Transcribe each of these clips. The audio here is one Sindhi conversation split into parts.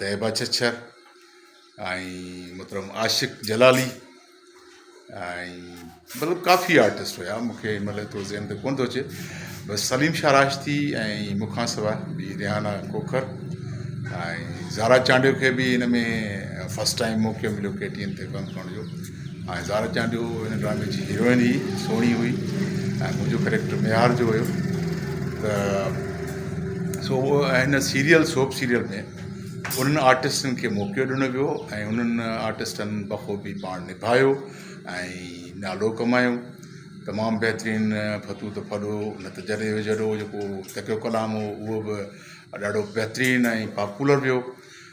طيبه ڇڇر ۽ محترم عاشق جلالي ۽ مطلب ڪافي آرٽسٽ هيا مون کي مطلب ايترو ذهن ۾ ڪونه ٿو اچي بس سليم شاهه راشدي ۽ مون کان سواء ٻي ريحانه کوکر ۽ زارا چانڊيو کي بي ان ۾ فسٽ ٽائيم موقعو مليو ڪي ٽي اين تي ڪم ڪرڻ جو آء ظاھر ڪيان جو ھن ڊرامي جي ھيروئن ئي سھڻي ھئي ۽ منھنجو ڪريڪٽر ميھار جو ھيو ته سو اھو ۽ ھن سيريل سوپ سيريل ۾ انھن آرٽسٽن کي موقعو ڏنو ويو ۽ انھن آرٽسٽن بخوبي پاڻ نڀايو ۽ نالو ڪمايو تمام بھترين ڦتو ته ڦڏو نه ته جڏي وجھڙو جيڪو تڪيو ڪلام ھو اھو به ڏاڍو بھترين ۽ پاپولر ويو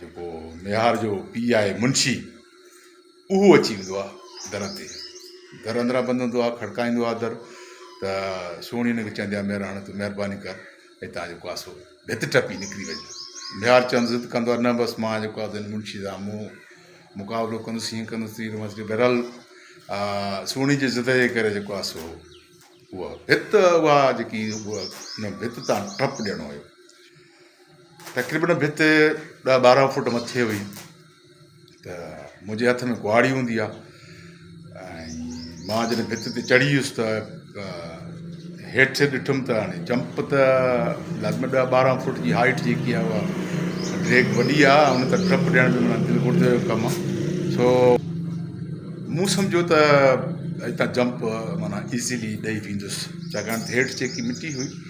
جيڪو ميهار جو پيء آهي منشي، اهو اچي ويندو آهي در تي. در اندران بند هوندو آهي، کڙڪائيندو آهي در، ته سهڻي هن کي چوندي آهي، ميراڻ تون مهرباني ڪر، هتان جيڪو آهي سو ڀت ٽپي نڪري وڃ. ميهار چوند ضد ڪندو آهي، نه بس مان جيڪو آهي منشي سان مون مقابلو ڪندس، هيئن ڪندس، تيئن ڪندس. بهرحال سهڻي جي ضد جي ڪري جيڪو آهي سو اها ڀت اها جيڪي هئي، ان ڀت تان ٽپ ڏيڻو هيو. تقريبن ڀت ڏهه ٻارهن فوٽ مٿي هئي ته منهنجي هٿ ۾ ڪهاڙي هوندي آ ۽ مان جڏهن ڀت تي چڙهي ويس ته هيٺ ڏٺم ته هاڻي جمپ ته لازمي ڏهه ٻارهن فوٽ جي هائيٽ جيڪي آ اها ڊريڪ وڏي آ ان ته ٽپ ڏيڻ جو مطلب دل گردي جو ڪم آ سو مون سمجهيو ته هتان جمپ معنيٰ ايزيلي ڏئي ويندس ڇاڪاڻ ته هيٺ جيڪي مٽي هئي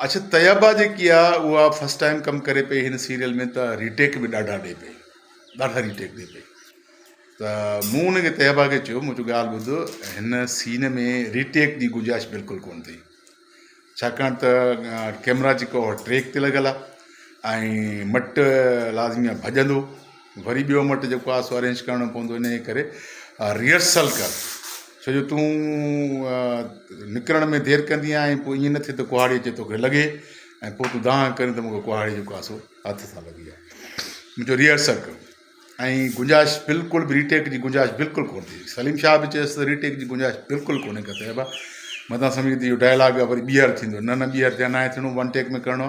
اڇ طيبه جيڪي آ اها فرسٽ ٽائيم ڪم ڪري پئي هن سيريل ۾ ته ريٽيڪ به ڏاڍا ڏي پئي ڏاڍا ريٽيڪ ڏي پئي ته مون ان کي طيبه کي چيو مون چيو ڳالهه ٻڌ هن سين ۾ ريٽيڪ جي گنجائش بلڪل ڪون اٿئي ڇاڪاڻ ته ڪيمرا جيڪو ٽريڪ تي لڳل آ ۽ مٽ لازمي آ ڀڄندو وري ٻيو مٽ جيڪو آهي سو ارينج ڪرڻو پوندو انهيء ڪري ريهرسل ڪر ڇو جو تون نڪرڻ ۾ دير ڪندي آهين پوء ائين نه ٿئي ته ڪهاڙي اچي توکي لڳي ۽ پوء تون دانهن ڪرين ته مونکي ڪهاڙي جيڪو آهي سو هٿ سان لڳي آهي منهنجو ريهرسل ڪر ۽ گنجائش بلڪل به ريٽيڪ جي گنجائش بلڪل ڪونه ٿي سليم شاهه به چيس ته ريٽيڪ جي گنجائش بلڪل ڪونه ڪتي ابا متان سمجهه ته اهو ڊائلاگ وري ٻيهر ٿيندو نه نه ٻيهر ته ناهي ٿيڻو ون ٽيڪ ۾ ڪرڻو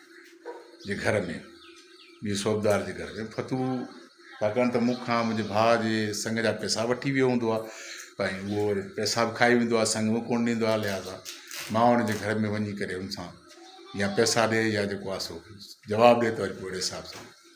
جي گهر ۾، ٻي صوبدار جي گهر ۾، ڦتو ڇاڪاڻ ته مون کان منهنجي ڀاء جي سڱ جا پئسا وٺي ويو هوندو آ ۽ اهو وري پئسا به کائي ويندو آ سڱ به ڪونه ڏيندو آ لهٰذا مان ان جي گهر ۾ وڃي ڪري ان سان يا پئسا ڏي يا جيڪو آ سو جواب ڏي ته وري پوء اهڙي حساب سان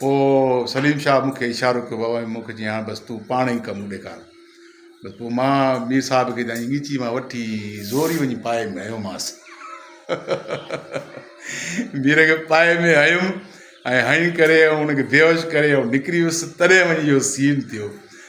پوء سليم شاهه مون کي اشارو ڪيو بابا مون کي چيائين بس تون پاڻ ئي ڪم ڏيکار بس پوء مان مير صاحب کي جائين ڳچي مان وٺي زوري وڃي پائي ۾ هنيومانس مير کي پائي ۾ هنيم ۽ هنئي ڪري ان کي بيهوش ڪري نڪري ويس تڏهن وڃي اهو سين ٿيو